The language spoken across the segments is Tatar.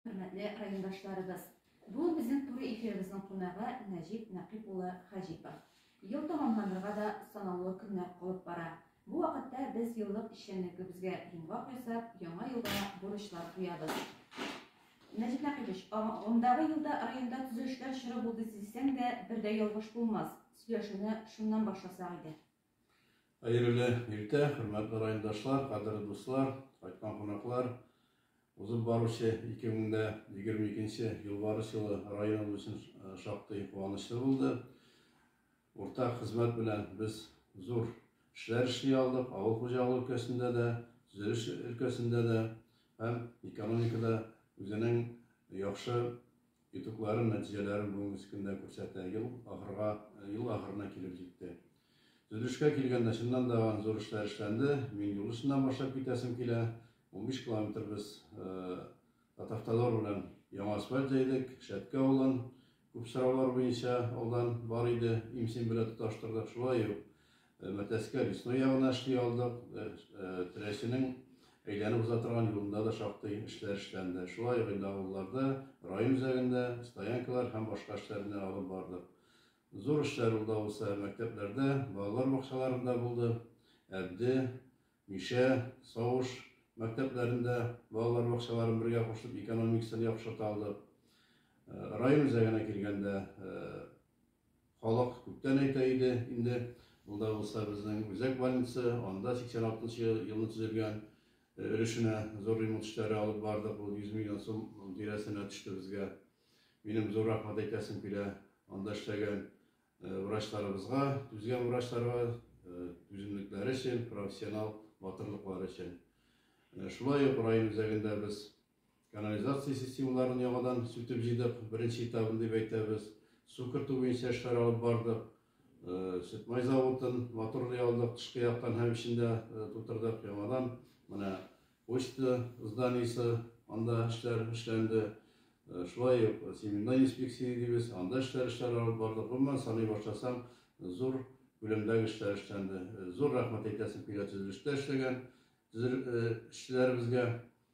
Хөрмәтле райондашларыбыз! Бүген безнең туры эфирыбызның кунагы Нәҗип Нәкыйп улы Хаҗипов. Ел тәмамланырга да санаулы көннәр калып бара. Бу вакытта без еллык эшчәнлегебезгә йомгак ясап, яңа елга бурычлар куябыз. Нәҗип Нәкыйпович, агымдагы елда районда төзелешләр чоры булды дисәң дә, бер дә ялгыш булмас. Сөйләшүне шуннан башласак иде. Хәерле иртә, хөрмәтле райондашлар, кадерле дуслар, кайткан кунаклар! Узып баручы 2022 Юлбарыс елы районыбыз өчен шактый куанычлы булды. Уртак хезмәт белән без зур эшләр эшли алдык, авыл хуҗалыгы өлкәсендә дә, төзелеш өлкәсендә дә һәм экономикада үзенең яхшы Итогларын, нәтиҗәләрен бүгенге көндә күрсәтә. Ел ахырга, ел ахырына килеп җитте. Төзелешкә килгәндә, чыннан да, зур эшләр эшләнде. Мин юл өстеннән башлап китәсем килә. Унбиш километр без Татавтодор белән яңа асфальт җәйдек. Шәткә авылын күп сораулар буенча алдан бар иде, имсин белән тоташтырдык. Шулай ук Мәтәскә Лесной ягына эшли алдык. Теләченең әйләнеп уза торган юлында да шактый эшләр эшләнде. Шулай ук инде авылларда, район үзәгендә стоянкалар һәм башка эшләрне алып бардык. Зур эшләр ул да булса мәктәпләрдә, балалар бакчаларында булды. Әбде, Мишә, Савыш мәктәпләрен дә, балалар бакчаларын бергә кушып экономикасын яхшырта алдык. Район үзәгенә килгәндә, Халык күптән әйтә иде инде, монда булса безнең үзәк больница, анда 86 нчы елны төзелгән өлешенә зур ремонт эшләре алып бардык, ул 100 миллион сум тирәсенә төште безгә. Минем зур рәхмәт әйтәсем килә анда эшләгән врачларыбызга, түзгән врачларга, түземлекләре өчен, профессионал батырлыклары өчен. Шулай ук район үзәгендә без Канализация системаларын яңадан сүтеп җыйдык, беренче этабын дип әйтәбез. Су кертү буенча эшләр алып бардык. Сөтмай заводын моторлый алдык, тышкы яктан һәм эчен дә тутырдык яңадан. Менә почта зданиесе, анда эшләр эшләнде. Шулай ук семенной инспекция дибез, анда эшләр эшләр алып бардык. Гомумән саный башласам, зур күләмдәге эшләр эшләнде. Зур рәхмәт әйтәсем килә төзелештә эшләгән эшчеләребезгә.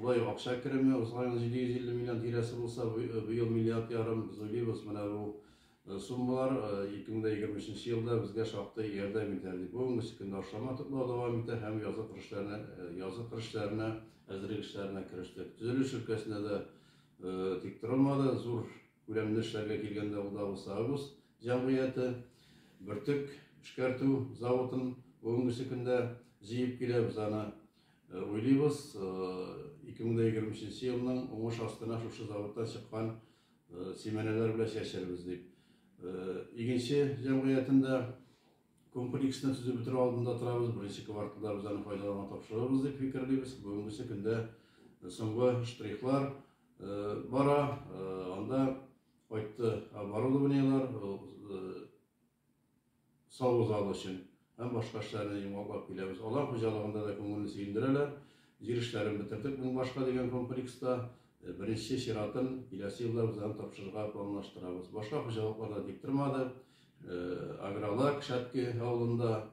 Шулай ук акча кереме узган ел 750 миллион тирәсе булса, быел миллиард ярым без уйлыйбыз. Менә бу суммалар 2023 елда безгә шактый ярдәм итәр дип. Бүгенге көндә ашламлар туплау дәвам итә һәм язгы кыр эшләренә язгы кыр эшләренә әзерлек эшләренә керештек. Төзелеш өлкәсендә дә тик торылмады. Зур күләмле эшләргә килгәндә, ул да булса Агус җәмгыяте, Бөртек эшкәртү заводын бүгенге көндә җыеп киләбез аны. Уйлыйбыз, 2020 нче елның уңыш астына шушы заводтан чыккан симәнәләр белән чәчербез дип. Игенче җәмгыятен дә комплексны төзеп бетерү алдында торабыз, беренче кварталда без аны файдалануга тапшырырбыз дип фикерлибез. Бүгенге көндә соңгы штрихлар бара, анда кайтты оборудованиеләр, саву залы өчен һәм башка эшләрне йомгаклап киләбез. Алар хуҗалыгында да күңелне сөендерәләр. Җир эшләрен бетердек Мең башка дигән комплекста. Беренче чиратын киләсе елда үзләрен тапшырырга планлаштырабыз. Башка хуҗалыклар да тик тормады. Агролак Шәтке авылында,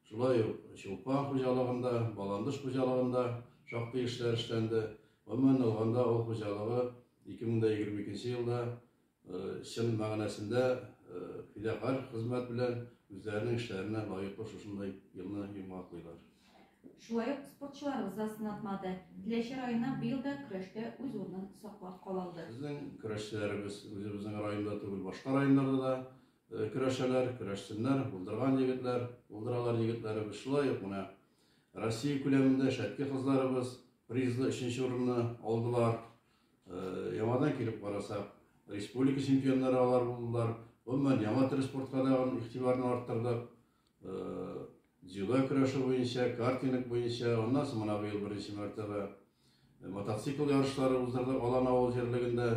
шулай ук Чулпан хуҗалыгында, Баландыш хуҗалыгында шактый эшләр эшләнде. Гомумән алганда, авыл хуҗалыгы 2022 елда Чын мәгънәсендә фидакарь хезмәт белән үзләренең эшләренә лаеклы шушындай елны йомгаклыйлар. Шулай ук спортчыларыбыз да сынатмады. Теләче районы быел да көрәштә үз урынын саклап кала алды. Безнең көрәшчеләребез үзебезнең районда түгел, башка районнарда да көрәшәләр, көрәшсеннәр, булдырган егетләр, булдыралар егетләребез. Шулай ук менә Россия күләмендә Шәтке кызларыбыз призлы өченче урынны алдылар. Яңадан килеп карасак, республика чемпионнары алар булдылар. Гомумән, яңа төр спортка дагын игътибарны арттырдык. Дзюдо көрәше буенча, картинг буенча, аннан соң менә быел беренче мәртәбә мотоцикл ярышлары уздырдык Алан авыл җирлегендә.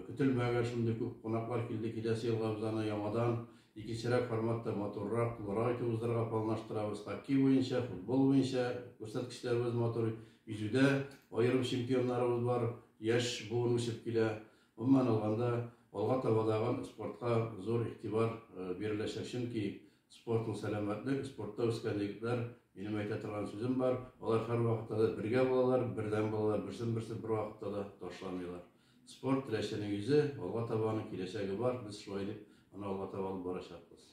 Көтелмәгән шундый күп кунаклар килде. Киләсе елга без аны яңадан Икенчерәк форматта матуррак, тулырак итеп уздырырга планлаштырабыз. Хоккей буенча, футбол буенча күрсәткечләребез матур. Йөзүдә аерым чемпионнарыбыз бар, яшь буын үсеп килә. Гомумән алганда, алга табадагы спортка зур игътибар биреләчәк, чөнки спорт ул сәламәтлек, спортта үскән егетләр, минем әйтә торган сүзем бар, алар һәрвакытта да бергә булалар, бердәм булалар, берсен-берсе бервакытта да ташламыйлар. Спорт, теләченең йөзе, алга таба аның киләчәге бар, без шулай дип аны алга таба алып барачакбыз.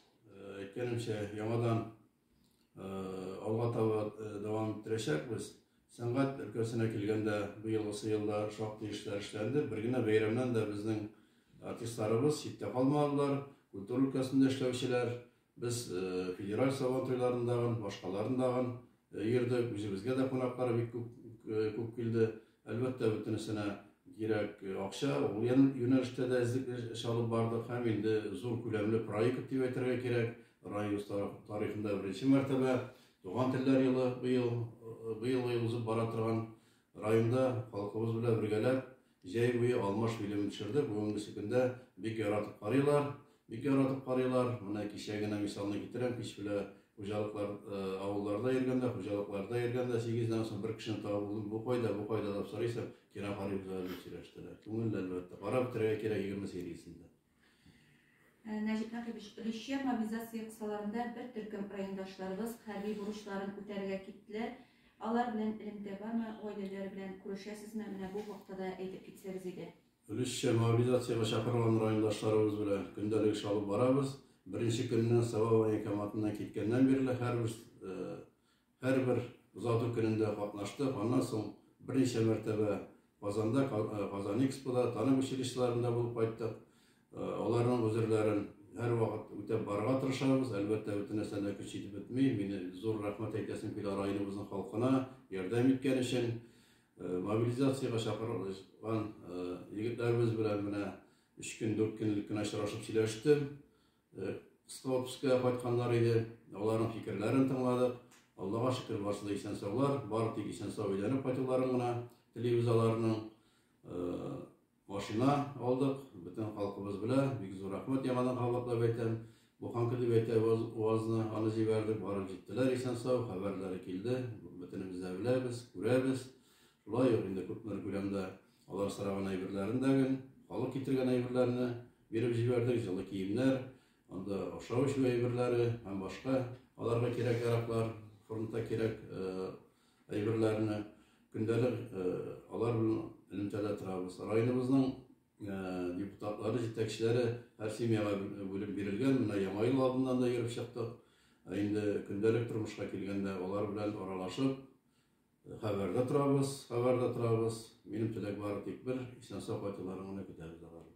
Әйткәнемчә, яңадан алга таба дәвам иттерәчәкбез. Сәнгать өлкәсенә килгәндә, быелгысы елда шактый эшләр эшләнде. Бер генә бәйрәмнән дә безнең артистларыбыз читтә калмадылар. Культура өлкәсендә эшләүчеләр Без федераль Сабантуйларын дагын, башкаларын дагын йөрдек. Үзебезгә дә кунаклар бик күп, күп килде. Әлбәттә, бөтенесенә кирәк акча. Ул юнәлештә дә эзлекле эш алып бардык һәм инде зур күләмле проект дип әйтергә кирәк. Районыбыз тарихында беренче мәртәбә Туган телләр елы быел, быел узып бара торган районда халкыбыз белән бергәләп Җәй буе алмаш фильмын төшердек, бүгенгесе көндә бик яратып карыйлар, бик яратып карыйлар. Менә кичә генә мисалны китерәм, кич белә хуҗалыклар, авылларда йөргәндә, хуҗалыкларда йөргәндә, сигездән соң бер кешене табып булдым, бу кайда, бу кайда дип сорыйсың, кино карыйбыз әле дип сөйләштерә. Күңелле, әлбәттә. Карап бетерергә кирәк егерме сериясен дә. Э, Нәҗип Нәкыйбович, Русия мобилизация кысаларында бер төркем райондашларыбыз хәрби бурычларын үтәргә киттеләр. Алар белән элемтә бармы, гаиләләре белән күрешәсезме? Менә бу хакта да әйтеп китсәгез иде. Русия мобилизациягә чакырылган райондашларыбыз белән көндәлек эш алып барабыз. Беренче көннән Сава военкоматыннан киткәннән бирле һәрбер э, Һәрбер озату көнендә катнаштык, аннан соң берничә мәртәбә Казанда, Казанэкспода, танып училищеларында булып кайттык. Аларның гозерләрен һәрвакыт үтәп барырга тырышабыз. Әлбәттә, бөтен нәрсәне дә көч итеп бетми. Мине зур рәхмәт әйтәсем килә районыбызның халкына ярдәм иткән өчен. Мобилизациягә чакырылган егетләребез белән менә өч көн, дүрт көнлек кенә очрашып сөйләштем. Э, Столпская кайтканнар иде, аларның фикерләрен тыңладык. Аллага шөкер, барсы да исән саулар, бары тик исән сау өйләнеп кайтуларын гына телибез аларның. Э, машина алдык, бөтен халкыбыз белә, бик зур рәхмәт яңадан кабатлап әйтәм. Бу ханкы дип әйтә УАЗны, аны җибәрдек, барып җиттеләр исән сау, хәбәрләре килде, бөтенебез дә беләбез, күрәбез. Шулай ук инде күпмер күләмдә Алар сораган әйберләрен дә гел, халык китергән әйберләрне биреп җибәрдек, җылы киемнәр, анда ашау-эчү әйберләре һәм башка аларга кирәк-яраклар, фронтта кирәк әйберләрне көндәлек алар белән элемтәдә торабыз. Районыбызның депутатлары, җитәкчеләре һәр семьяга бүлеп бирелгән. Менә Яңа ел алдыннан да йөреп чыктык. Ә инде көндәлек тормышка килгәндә, алар белән аралашып, Хәбәрдә торабыз, хәбәрдә торабыз. Минем теләк бары тик бер, исән-сау кайтуларын гына көтәбез алар.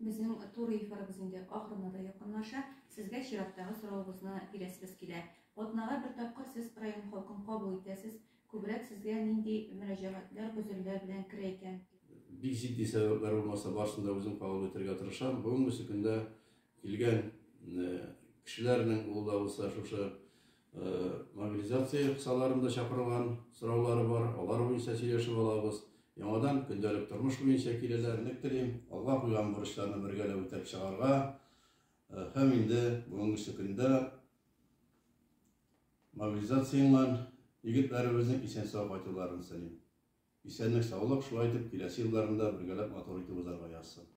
Безнең тур эфирыбыз инде ахырына да якынлаша. Сезгә чираттагы соравыбызны бирәсебез килә. Атнага бер тапкыр сез район халкын кабул итәсез. Күбрәк сезгә нинди мөрәҗәгатьләр, гозерләр белән керә икән? Бик җитди сәбәпләр булмаса, барысын да үзем кабул итәргә тырышам. Бүгенге көндә килгән кешеләрнең ул да булса шушы Мобилизация кысаларын да чакырган сораулары бар, алар буенча сөйләшеп алабыз. Яңадан көндәлек тормыш буенча киләләр. Элек телим, алга куйган бурычларны бергәләп үтәп чыгарга. Һәм инде бүгенге көндә мобилизацияннан егетләребезнең исән-сау кайтуларын телим. Исәнлек-саулык, шулай итеп, киләсе елларында бергәләп матур итеп узарга язсын.